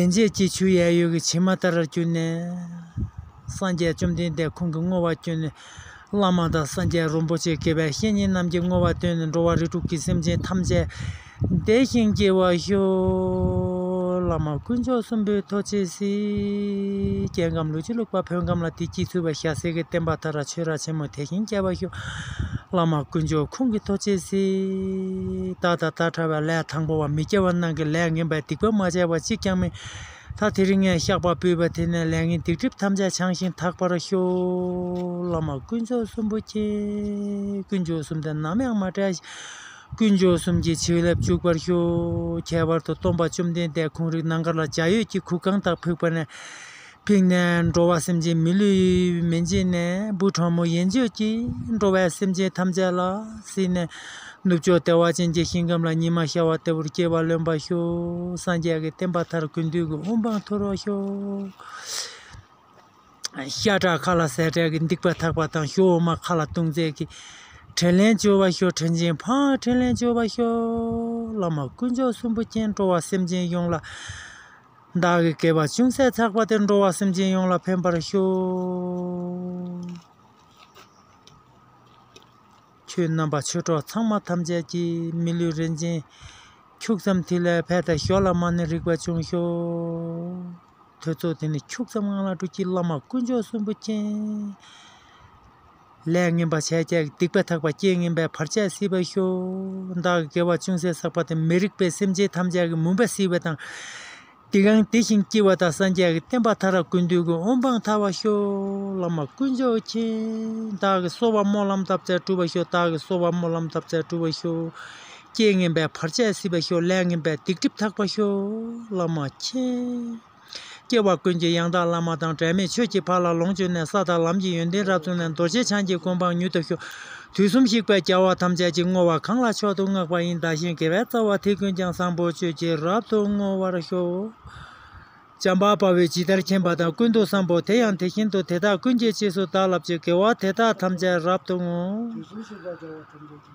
ཡན་ཆད་ཀྱིས་ཆུ་གཡས་གཡོན་གྱི་ཕྱེ་མ་ལྟར་གྱུར་ནས་སངས་རྒྱས་བཅོམ་ལྡན་འདས་ཁོང་གི་བསྔོ་བ་བསྐྱོན། བླ་མ་དང་སངས་རྒྱས་རིན་པོ་ཆེ་དགེ་བའི་བཤེས་གཉེན་རྣམས་ཀྱིས་བསྔོ་བ་བཏོན་ནས་འགྲོ་བ་རིགས་དྲུག་གི་སེམས་ཅན་ཐམས་ཅད་བདེ་ཞིང་སྐྱིད་པར་ཤོག། བླ་མ་དཀོན་མཆོག་གསུམ་པོས་ཐོ་ཆེ་སིདྡྷིའི་རྒྱལ་ཁམས་ལུས་ཀྱི་ལུག་པ་བོད་ཁམས་ལ་བདེ་སྐྱིད་ཚུལ་བ་ཤ་ཟེར་གྱི་བསྟན་པ་དར་ར་ཆོས་ར་ཆེན་མོ་དེ་བཞིན་རྒྱས་པར་ཤོག། བླ་མ་དཀོན་མཆོག་ཁོང་གིས་ཐོ་ཅེ་སི། ད་ད་ད་ཕྲ་བའི་ལས་དང་པོ་བ་མི་སྐྱེ་བ་རྣམས་ཀྱི་ལས་ངན་པའི་སྡིག་པ་མ་བྱས་པ་གཅིག་ཀྱང་མེད། ད་དེ་རིང་ངས་བཤགས་པ་འབུལ་བ་དེ་ནས་ལས་ངན་སྡིག་སྒྲིབ་ཐམས་ཅད་བྱང་ཞིང་དག་པར་ཤོག། བླ་མ་དཀོན་མཆོག་གསུམ་པོ་མཁྱེན། དཀོན་མཆོག་གསུམ་དེ་ནམ་ཡང་མ་བྲལ་ཞིང། དཀོན་མཆོག་གསུམ་གྱི་བྱིན་རླབས་འཇུག་པར་ཤོག། ཁྱད་པར་དུ་སྟོང་པ་བཅོམ་ལྡན་འདས་ཁོང་རིག་ནང་མཁར་ལ་འཇའ་ཡོས་ཀྱི་གུར་ཁང་དག་ཕུག་པ་ནས། ཕིགས་ནས་འགྲོ་བ་སེམས་ཅན་མི་ལུས་མི་འབྱིན་ནས་བུ་ཕྲ་མོ་ཡན་ཆོད་ཀྱིས་འགྲོ་བའི་སེམས་ཅན་ཐམས་ཅད་ལ་བསིལ་ནས་ནུབ་ཕྱོགས་ལྟེ་བ་ཅན་གྱི་ཞིང་ཁམས་ལ་ཉི་མ་ཤར་བ་ལྟ་བུར་སྐྱེ་བ་ལོན་པར་ཤོག་སངས་རྒྱས་ཀྱི་བསྟན་པ་མཐར་ཀུན་འདུས་ཀྱི་དབུ་འཕང་མཐོ་རུ་ཤོག། ཤ་ཁྲག་མཁའ་ལ་ཟད་བྲལ་གྱི་སྡིག་པ་དག་པ་དང་ཞོ་འོ་མ་མཁའ་ལ་ལྟུང་མཛད་ཀྱི་དྲིན་ལན་བཅོལ་བར་ཤོག་དྲིན་ཅན་འཕང་དྲིན་ལན་བཅོལ་བར་ཤོག། བླ་མ་དཀོན་མཆོག་གསུམ་པོ་མཁྱེན་འགྲོ་བ་སེམས་ཅན་ཡོངས་ལ། བདག་གི་བསྐལ་པ་ཅུང་ཟད་འཚག་པ་དེར་འགྲོ་བ་སེམས་ཅན་ཡོངས་ལ་ཕན་པར་ཤོག། ཁྱོད་རྣམ་པ་ཆོས་གྲོགས་ཚང་མ་ཐམས་ཅད་ཀྱིས་མི་ལུས་རིན་ཆེན་ཁྱུག་ཙམ་ཐིག་ལེ་ཕལ་དེ་ཞོ་ལ་མ་ནི་རིག་པ་ཅུང་ཤོག། ཐོས་ཚོགས་དེ་ནི་ཁྱུག་ཙམ་ངང་ལ་འགྲོ་ཁྱི་བླ་མ་དཀོན་མཆོག་གསོན་པོ་མཁྱེན། ལས་ངན་པ་བྱས་ཀྱང་སྡིག་པ་ཐག་པ་སྐྱེ་ངན་པའི་བར་ཆད་སེལ་བར་ཤོག། བདག་གི་དགེ་བ་ཅུང་ཟད་བསགས་པ་དེས་མི་རིགས་པའི་སེམས་ཅན་ཐམས་ཅད་ཀྱི་མུན་པ་སེལ་བ་དང། དེ་གང་དེ་བཞིན་སྐྱེ་བ་དང་སངས་རྒྱས་ཀྱི་བསྟན་པ་ཐ་ར་ཀུན་འདུས་ཀྱི་དབང་འབངས་ཐར་བར་ཤོག། བླ་མ་དཀོན་མཆོག་མཁྱེན། བདག་གི་གསོལ་བ་སྨོན་ལམ་འདབ་བརྒྱ་གྲུབ་པར་ཤོག་བདག་གི་གསོལ་བ་སྨོན་ལམ་འདབ་བརྒྱ་གྲུབ་པར་ཤོག། སྐྱེ་ངན་པའི་བར་ཆད་སེལ་བར་ཤོག་ལས་ངན་པའི་སྡིག་སྒྲིབ་དག་པར་ཤོག། བླ་མ་མཁྱེན། སྐྱེ་བ་ཀུན་གྱི་ཡང་དག་བླ་མ་དང་བྲལ་མེད་ཆོས་ཀྱི་ཕ་ལ་ལོངས་སྤྱོད་ནས་ས་དང་ལམ་གྱི་ཡོན་ཏན་རབ་མཚོན་ནས་རྡོ་རྗེ་འཆང་གི་སྐུ་འབངས་མྱུར་དུ་ཤོག། དུས་གསུམ་གཤེགས་པའི་བྱ་བ་ཐམས་ཅད་ཀྱི་བསྔོ་བ་གང་ལ་མཆོག་ཏུ་བསྔགས་པ་ཡིན་བདག་གཞན་དགེ་བའི་རྩ་བ་དེ་ཀུན་ཀྱང་བཟང་པོའི་སྤྱོད་ཀྱིས་རབ་ཏུ་བསྔོ་བར་ཤོག། བྱམས་པ་དཔའ་བོས་ཇི་ལྟར་མཁྱེན་པ་དང་ཀུན་ཏུ་བསམ་པའོ་དེ་ཡང་དེ་བཞིན་དུ་དེ་དག་ཀུན་གྱི་རྗེས་སུ་བདག་བསླབ་ཀྱི་དགེ་བ་དེ་དག་ཐམས་ཅད་རབ་ཏུ་བསྔོ། དུས་གསུམ་གཤེགས་པའི་བྱ་བ་ཐམས་ཅད་ཀྱི།